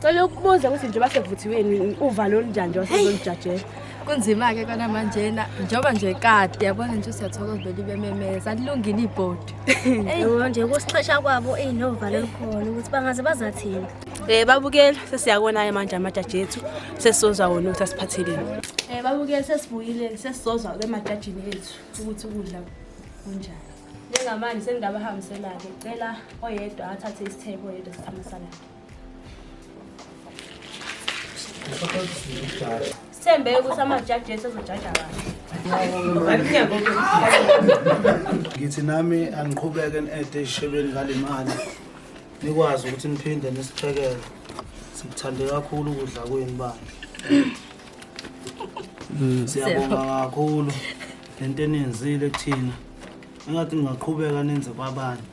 Cela ukubuza ukuthi njengoba sevuthiweni uvalo olunjani njengoba sezolujajela. Kunzima-ke kona manjena njengoba nje kade yabona nje usiyathokoza vele ibememeza alilungile ibhodi. Yebo nje kusixesha kwabo eyi novalo olukhona ukuthi bangaze bazathini. Eh babukela sesiyakona-ke manje amajaji ethu sesizozwa wona ukuthi asiphatheleni. Eh babukela sesibuyile sesizozwa ke emajajini ethu ukuthi ukudla kunjani. Njengamanje sengingabahambiselake cela oyedwa athathe isithebe oyedwa sithambisalake. Sithembe ukuthi amajaji ethu azojaja kahle. ngithi nami angiqhubeke ni-ede esishebeni ngale mali nikwazi ukuthi niphinde nisiphekele sikuthande kakhulu ukudla kwenu bandla siyabonga kakhulu le nto eniyenzile kuthina engathi ningaqhubeka nenze kwabanye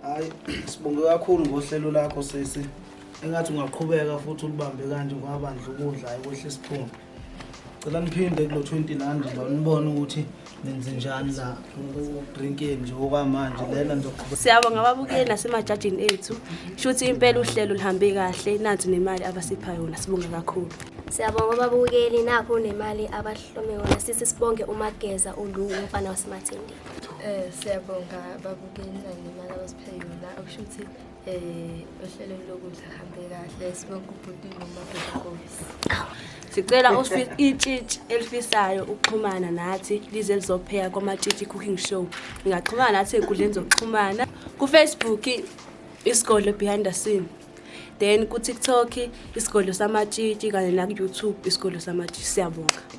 hayi sibonge kakhulu ngohlelo lakho sisi engathi ungaqhubeka futhi ulibambe kanje ngwabandla ukudla hayi kwehle isiphunga cela niphinde kulo 20 landi ba nibone ukuthi nenze njani la drinkeni nje okwamanje lena ngizoqhubeka siyabonga ababukeli nasemajajini ethu shuthi impela uhlelo lihambe kahle nansi nemali abasipha yona sibonga kakhulu siyabonga ababukeli nakho nemali abahlome yona sisi sibonge umageza ulu umfana wasemathindi Eh siyabonga babukeli nalimali abasiphe yona okusho ukuthi eh ohlelweni lokudla hambe kahle sibonke ubhuti noma bhekobisi. Sicela osifisa itshitshi elifisayo ukuxhumana nathi lize lizopheka kwamatshitshi cooking show. Ningaxhumana nathi enkundleni zokuxhumana ku-Facebook isigole behind the scene. Then ku-TikTok isigole samatshitshi kanye naku-YouTube isigole samatshitshi siyabonga.